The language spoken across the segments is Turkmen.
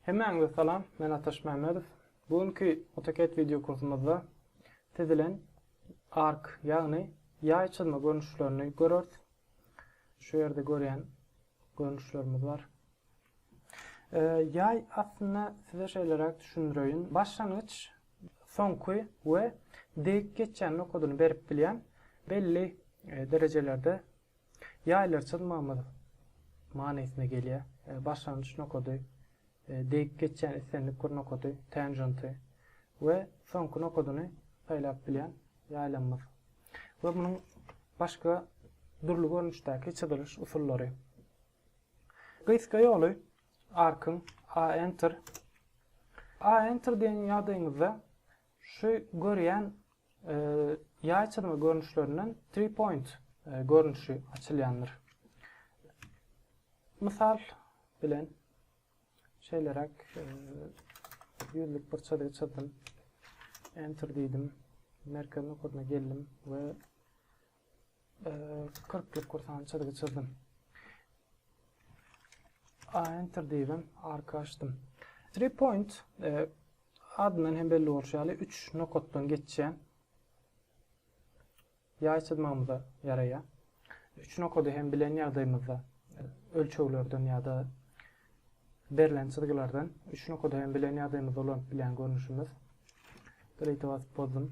Hemmäňize salam, men Ataş Mämmedow. Bu günki AutoCAD wideo kursumyzda siz bilen ark, ýagny ýaý çyzma görnüşlerini görers. Şu ýerde görýän görnüşlerimiz bar. Jaý aslynda size şeýleräk düşündireýin. Başlangyç, soňky we degip geçýän nokadyny berip bilýän belli derejelerde jaýlary çyzmagymyz manysyna gelýär. Başlangyç nokady, degip geçýän islendik bir nokady, tenjenty, we soňky nokadyny saýlap bilýän jaýlamyz. We munuň başga dürli görnüşdäki çyzylyş usullary. Gysga ýoly arkyň A Enter. A Enter diýen ýagdaýyňyzda şu görýän ýaý çyzma görnüşlerinden Three Point görnüşi açylýandyr. Mysal bilen şeýleräk ýüzlük bir çyzgy çyzdym. Enter diýdim. Merkez nokadyna geldim we kyrk bir kursany çyzgy çyzdym. A enter diýdim, arka açdym. Three point e, adyndan hem belli bolşy ýaly 3 nokatdan geçýän ýaý çyzmagymyza ýaraýar. 3 nokady hem bilen ýagdaýymyzda e, ölçeglerden ýa-da berlen çyzgylardan 3 nokady hem bilen ýagdaýymyzda ulanyp bilen görnüşimiz. Delete basyp bozdum.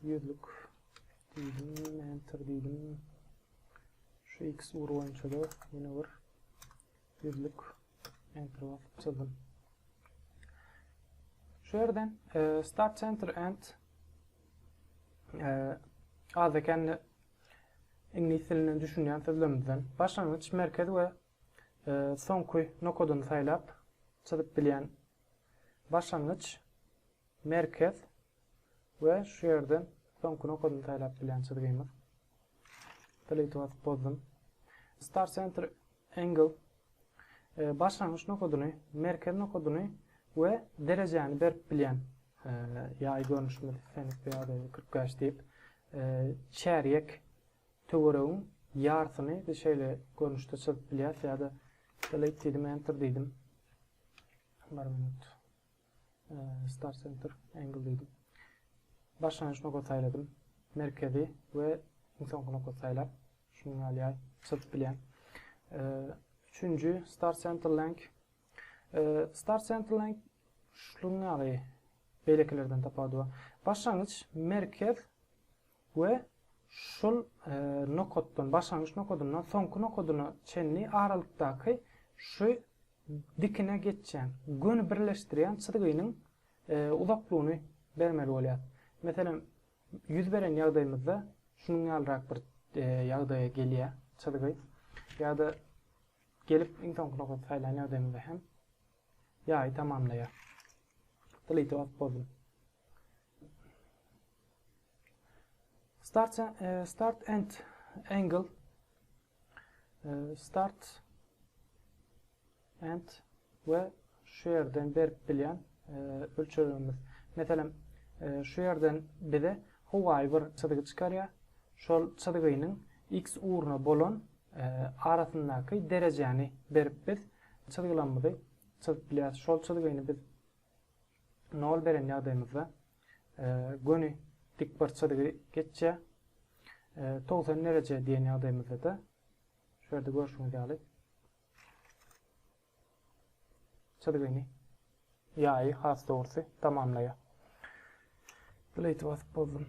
Ýüzlük diýdim, enter diýdim. Şu x ugur boýunça da ýene bir ýüzlük enter basyp çyzdym. Şu ýerden e, start center and e, az eken iňlis dilinden düşünýän sözlerimizden başlangyç merkez we e, soňky nokadyny saýlap çyzyp bilýän Başlangyç, merkez we şu ýerden soňky nokadyny saýlap bilýän çyzgymyz. Delete basyp bozdum. Start center angle başlangyç nokadyny, merkez nokadyny we derejäni berip bilýän ýaý görnüşimiz, fenix ýa-da 45 diýip, çärýek Töweregiň ýarsyny biz şeýle görnüşde çyzyp bilýäs ýa-da delete diýdim, enter diýdim. Bir minut. Start center angle diýdim. Başlangyç nokat saýladym. Merkezi we iň soňky nokat saýlap, şunuň ýaly ýaý çyzyp bilýän. Üçünji start center length. Start center length şunuň ýaly beýlekilerden tapawudy bar. Başlangyç merkez we şol nokatdan, başlangyç nokadyndan soňky nokadyna çenli aralykdaky şu dikine geçýän, göni birleşdirýän çyzgynyň uzaklygyny bermeli bolýar. Meselem, ýüz beren ýagdaýymyzda şunuň ýalyrak bir ýagdaýa gelýär çyzgy. Ýa-da gelip iň soňky nokady saýlan ýagdaýymyzda hem ýaýy tamamlaýar. Delete basyp boldum. Start, e, start and angle. E, start and we şu yerden berip bilýän e, ölçegimiz. Meselem, e, şu yerden bize howaýy bir çyzgy çykarýar. Şol çyzgynyň x ugruna bolan e, arasyndaky derejäni berip biz çyzgylarymyzy çyzyp bilýäris. Şol çyzgyny biz nol beren ýagdaýymyzda göni dikbarçadygy geçýär. Togsan dereje diýen ýagdaýymyzda-da şu ýerde görşüňiz ýaly çyzgyny ýaýy has dogrusy tamamlaýar. Delete basyp bozdum.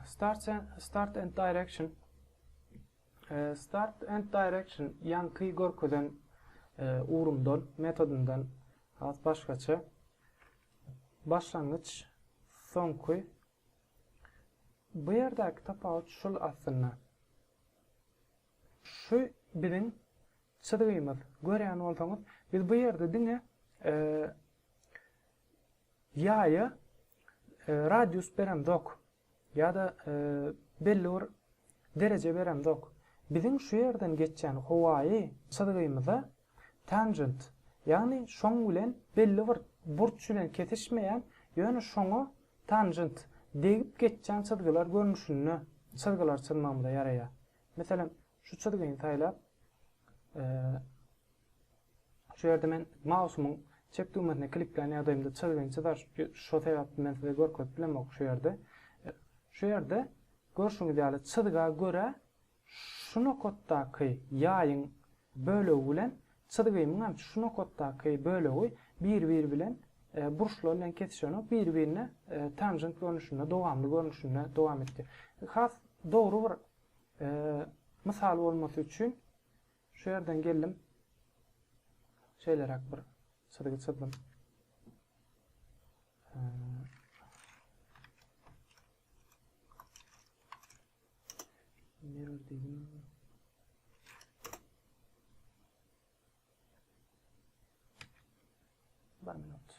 Start and, start and direction Start and direction ýanky görkezen ugrumdan, metodundan Has başgaça başlangyç soňky bu ýerdäki tapawut şul aslynda. Şu biziň çyzgymyz. Görýän bolsaňyz, biz bu ýerde diňe ýaýa radius beremzok. Ýa-da belli bir dereje beremzok. Biziň şu ýerden geçýän howaýy çyzgymyza tanjent, ýagny şoň bilen belli bir burç bilen kesişmeýän, ýöne şoňa tanjent, degip geçýän çyzgylar görnüşinde çyzgylar çyzmagymyza ýaraýar. Meselem, Şu çyzgyny saýlap, şu ýerde men mausumyň çep düwmesine kliklän ýagdaýymda çyzgyny çyzar. Şo sebäpli men size görkezip bilemok şu ýerde. Şu ýerde görşüňiz ýaly çyzga görä şu nokatdaky ýaýyň bölegi bilen çyzgymyň hem şu nokatdaky bölegi bir-biri bilen burçlar bilen kesişenok, bir-birine tanjent görnüşinde, dowamly görnüşinde dowam etdi. Has dogry bir Mysal bolmasy üçin şu ýerden geldim. Şeýleräk bir çyzgy çyzdym. Mirror dedim. Bir minut.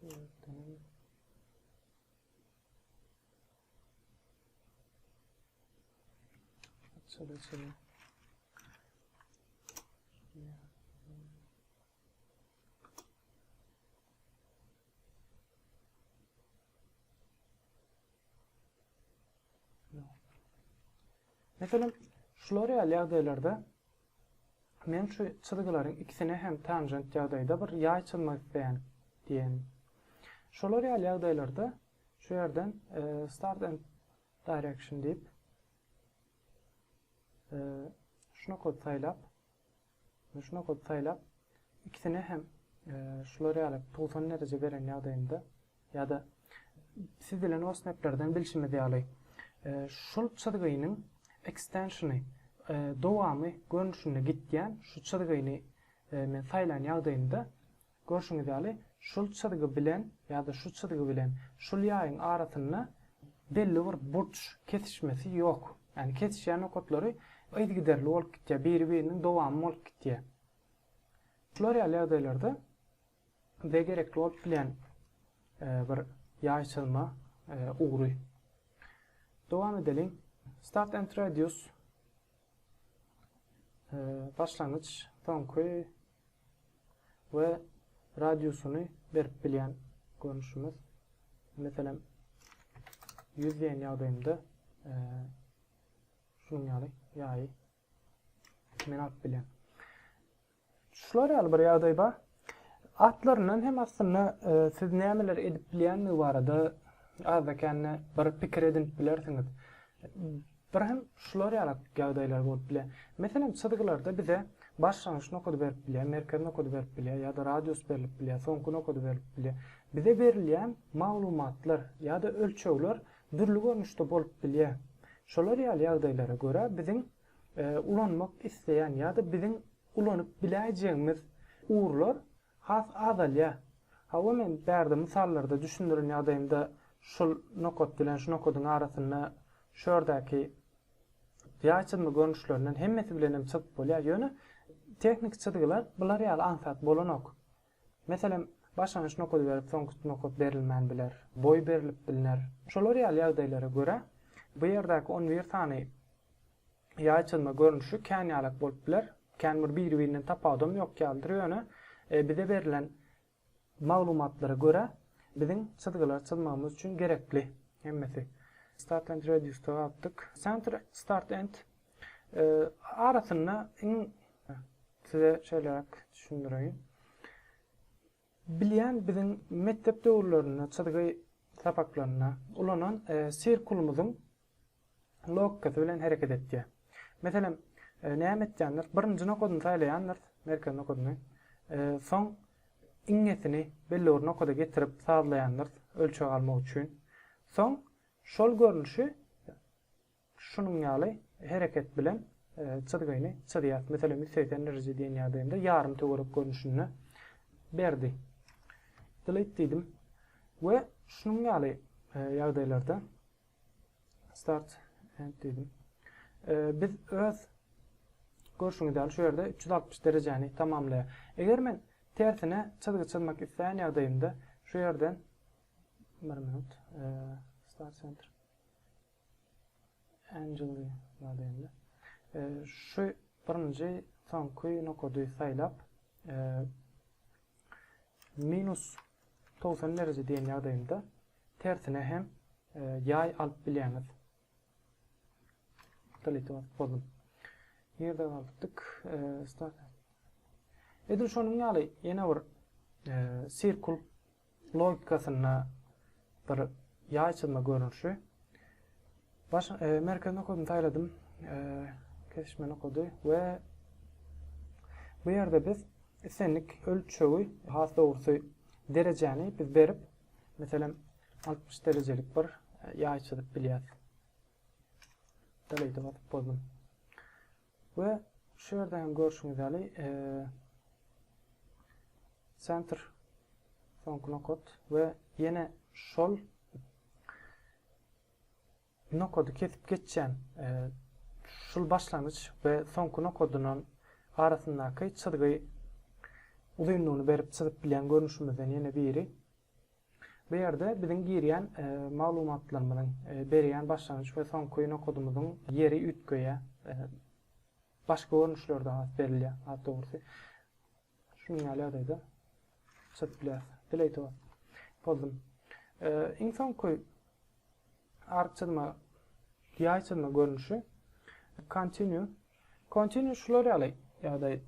Şu ýerden Şöyle şöyle. Mesela şular ýaly ýagdaýlarda men şu çyzgylaryň ikisine hem tanjent ýagdaýda bir ýaý çyzmak isleýän diýen. Şolar ýaly ýagdaýlarda Şu ýerden Start and Direction diýip, şu nokady saýlap, şu nokady saýlap, ikisine hem şular ýaly 90 dereje beren ýagdaýynda ýa-da siz bilen OSMAP-lerden bilşimiz ýaly, şul çyzgynyň ekstensiony, dowamy görnüşinde gitýän şu çyzgyny men saýlan ýagdaýynda, Görşüňiz ýaly, şul çyzgy bilen ýa-da şu çyzgy bilen şul ýaýyň arasynda belli bir burç kesişmesi ýok. Ýagny kesişýän nokatlary yzgiderli bolup gitýär, biri-biriniň dowamy bolup gitýär. Şular ýaly ýagdaýlarda bize gerekli bolup bilýän bir ýaý çyzma ugry. Dowam edeliň. Start and radius başlangyç, soňky we radiusyny berip bilýän görnüşimiz. Meselem, 100 diýen ýagdaýymda e, şunuň ýaly ýaýy men alyp bilýän. Şular ýaly bir ýagdaý bar. Atlaryndan hem aslynda siz nämeler edip bilýändigi barada azda-kände bir pikir edinip bilersiňiz. Bir hem şular ýaly ýagdaýlar bolup bilýär. Meselem, çyzgylarda bize başlangyç nokady berip bilýär, merkez nokady berip bilýär ýa-da radius berlip bilýär, soňky nokady berlip bilýär. Bize berilýän maglumatlar ýa-da ölçegler dürli görnüşde bolup bilýär. Şolar ýaly ýagdaýlara görä biziň ulanmak isleýän ýa-da biziň ulanyp biläýjegimiz ugurlar has azalýar. Hawa, men bärde mysallarda düşündiren ýagdaýymda şul nokat bilen şu nokadyň arasynda şu ýerdäki ýaý çyzma görnüşlerinden hemmesi bilenem çyzyp bolýar. Ýöne tehniki çyzgylar bular ýaly aňsat bolanok. Meselem, başlangyç nokady berip, soňky nokat berilmän biler, boý berlip bilner. Şolar ýaly ýagdaýlara görä, bu ýerdäki on bir sany ýaý çyzma görnüşi kän ýalak bolup biler, kän bir biri-birinden tapawudam ýok ýalydyr, ýöne bize berlen maglumatlara görä, biziň çyzgylary çyzmagymyz üçin gerekli hemmesi. Start and Radius-da galdyk. Center, Start and. arasynda iň size şeýleräk düşündireýin. Bilýän biziň mekdep döwürlerinde çyzgy sapaklarynda ulanan e, sirkulumyzyň logikasy bilen hereket etýär. Meselem, e, näme etýändir? Birinji nokadyny saýlaýandyr, merkez nokadyny. E, soň iňňesini belli bir nokada getirip sazlaýandyr ölçeg almak üçin. Soň şol görnüşi Şunuň ýaly hereket bilen çyzgyny çyzýas. Meselem, ýüz segsen dereje diýen ýagdaýymda ýarym töwerek görnüşinde berdi. Delete diýdim we şunuň ýaly ýagdaýlarda start end diýdim. Biz öz görşüňiz ýaly şu ýerde 360 derejäni tamamlaýar. Eger men tersine çyzgy çyzmak isleýän ýagdaýymda şu ýerden bir minut start center Angeli Madeni. Şu birinji soňky nokady saýlap, minus togsan dereje diýen ýagdaýynda tersine hem ýaý alyp bilýäňiz. Delete basyp boldum. Nirde galdyk? Edil şonuň ýaly ýene bir sirkul logikasynda bir ýaý çyzma görnüşi. Baş e, merkezini okadym, saýladym. E, kesişmeni okady we bu ýerde biz islendik ölçegi, has dogrusy derejäni biz berip, meselem 60 derejelik bir e, ýaý çyzyp bilýäris. Delete'e basyp bozdum. We şu ýerde hem görşüňiz ýaly Center soňky nokat we ýene şol nokady kesip geçýän şul başlangyç we soňky nokadyndan arasyndaky çyzgy uzynlygyny berip çyzyp bilýän görnüşimizden ýene biri. Bu ýerde biziň girýän maglumatlarymyzyň, berýän başlangyç we soňky nokadymyzyň ýeri üýtgeýär. Başga görnüşlerde has berilýär, has dogrusy. Şunuň ýaly ýagdaýda çyzyp bileris. Delete bas. Pozdum. Iň soňky ark çyzma, ýaý çyzma görnüşi. Continue. Continue şular ýaly ýagdaý.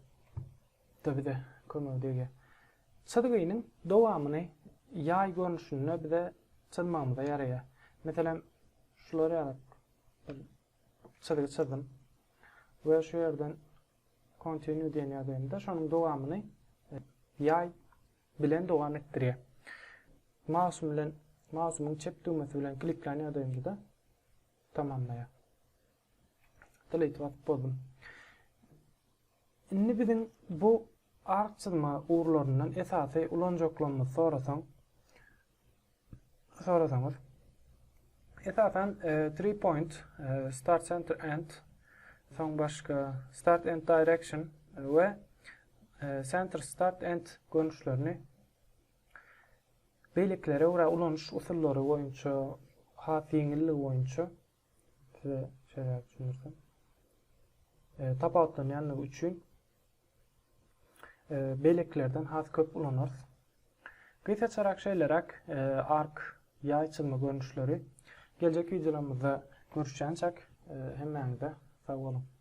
Da bize kömegi degýär. Çyzgynyň dowamyny ýaý görnüşinde bize çyzmagymyza ýaraýar. Meselem, şular ýaly bir çyzgy çyzdym we şu ýerden Continue diýen ýazýan-da, şonuň dowamyny ýaý bilen dowam etdirýär. Mausym bilen, mausymyň çep düwmesi bilen kliklän ýagdaýymda-da tamamlaýar. Delete basyp bozdum. Indi biziň bu ark çyzma ugurlaryndan esasy ulanjaklarymyzy sorasaň, sorasaňyz, esasan e, three point, e, start center end, soň başga start end direction we e, center start end görnüşlerini beýlekilere görä ulanyş usullary boýunça has ýeňilligi boýunça Size şeýle düşündirsem. E, tapawutlanýandygy üçin e, beýlekilerden has köp ulanarys. Gysgaçarak şeýleräk e, ark ýaý çyzma görnüşleri. Geljek wideolarymyzda görüşýänçäk e, hemmäňize sag boluň.